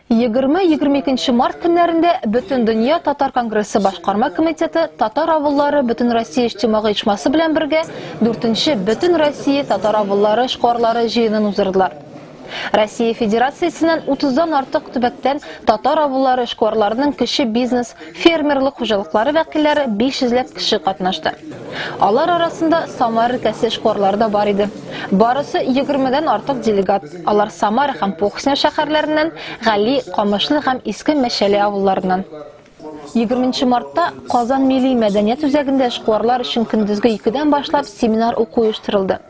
20-22 март көннәрендә Бөтендөнья татар конгрессы башкарма комитеты татар авыллары Бөтенроссия иҗтимагый оешмасы белән бергә 4-нче Бөтенроссия татар авыллары эшкуарлары җыенын уздырдылар. Россия Федерациясеннән 30 дан артык төбәктән татар авыллары эшкуарларының кече бизнес Фермерлык хуҗалыклары вәкилләре 500 ләп кеше катнашты. Алар арасында Самара өлкәсе эшкуарлары да бар иде. Барысы 20 дән артык делегат. Алар Самара һәм Похсня шәһәрләреннән, Гали, Камышлы һәм Иске Мәчәле авылларыннан. 20 мартта Казан милли мәдәният үзәгендә эшкуарлар өчен көндезге икедән башлап семинар-уку оештырылды.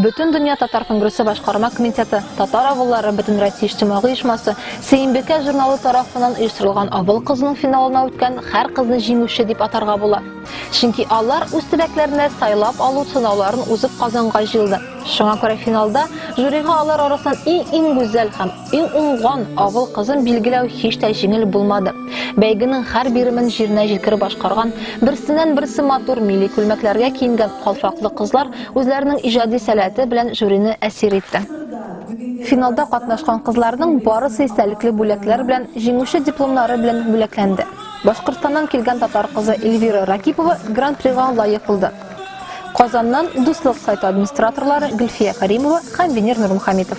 Бөтендөнья татар конгрессы башкарма комитеты, Татар авыллары бөтенроссия иҗтимагый оешмасы, Сөембикә журналы тарафыннан оештырылган Авыл кызының финалына үткән хәр кызны җиңүче дип атарга була. Чөнки алар үз төбәкләренә сайлап алу сынауларын узып Казанга җыелды. Шуңа күрә финалда жюрига алар арасыннан иң-иң гүзәл һәм Иң уңган авыл кызын билгеләү һич тә җиңел булмады. Бәйгенең һәр биремен җиренә җиткереп башкарган, берсеннән-берсе матур милли күлмәкләргә киенгән калфаклы кызлар үзләренең иҗади сәләте белән жюрины әсир итте. Финалда катнашкан кызларның барысы истәлекле бүләкләр белән, җиңүче дипломнары белән бүләкләнде. Башкортстаннан килгән татар кызы Эльвира Ракипова Гран-прига лаек булды. Казаннан Дуслык сайты администраторлары Гөлфия Кәримова һәм Венер Нурмухаметов.